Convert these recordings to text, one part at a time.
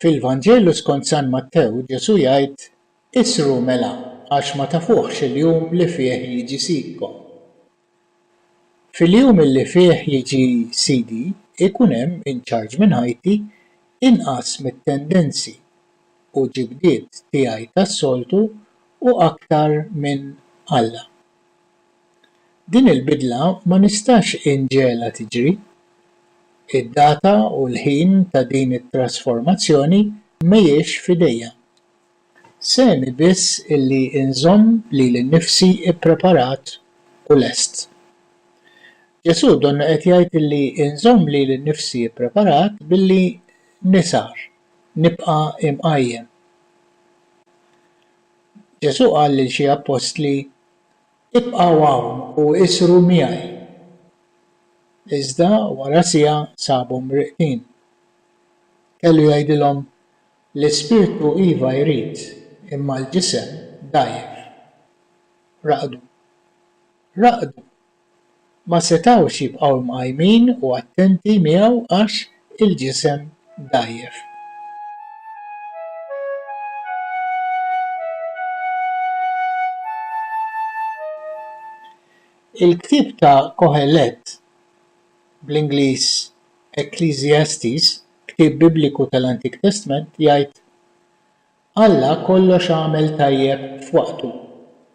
Fil-Vanġelu skont San Mattew Ġesù jgħid, Isru mela għax ma tafuhx il-jum li fih jiġi sidkom. Fil-jum illi fih jiġi sidi jkun hemm in charge minn ħajti inqas mit-tendenzi u ġibdiet tiegħi tas-soltu u aktar minn Alla. Din il-bidla ma nistax inġegħelha tiġri. Id-data u l-ħin ta' din it-trasformazzjoni mhijiex f'idejja. Sehemi biss illi nżomm lili nnifsi ppreparat u lest. Ġesù donna qed jgħid illi nżomm lili nnifsi ppreparat billi nisgħar, nibqa' imqajjem. Ġesù qal lil xi appostli, Ibqgħu hawn u isru miegħi. Iżda wara siegħa sabhom mrieqdin. Kellu jgħidilhom, L-ispirtu iva jrid, imma l-ġisem dgħajjef. Raqdu. Raqdu ma setgħux jibqgħu mqajmin u attenti miegħu għax il-ġisem dgħajjef. Il-ktieb ta' Kohelet, bl-Ingliż, Ecclesiastes, ktieb Bibliku tal-Antik Testment, jgħid, Alla kollox għamel tajjeb f'waqtu,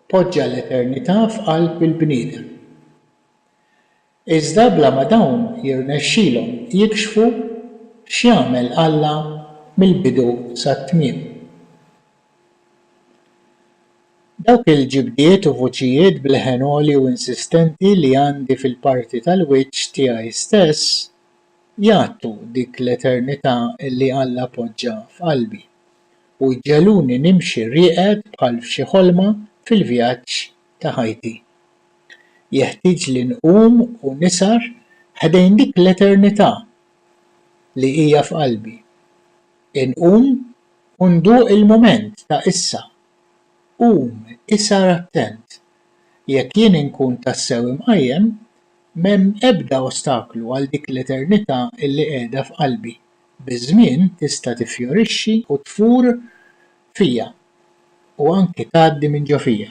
poġġa l-eternità f'qalb il-bniedem. Iżda bla ma dawn jirnexxilhom jikxfu x'jagħmel Alla mill-bidu sat-tmiem. Dawk il-ġibdiet u vuċijiet b'leħen għoli u insistenti li għandi fil-parti tal-wiċċ tiegħi stess jgħattu dik l-eternità li Alla poġġa f'qalbi. u jġegħluni nimxi rieqed bħal f'xi ħolma fil-vjaġġ ta' ħajti. Jeħtieġli nqum u nisgħar ħdejn dik l-eternità li hija f'qalbi. Inqum u nduq il-mument ta' issa. Qum, ishar attent. Jekk jien inkun tassew imqajjem, m'hemm ebda ostaklu għal dik l-eternità li qiegħda f'qalbi. Biż-żmien tista' tiffjorixxi u tfur fija u anki tgħaddi minn ġo fija.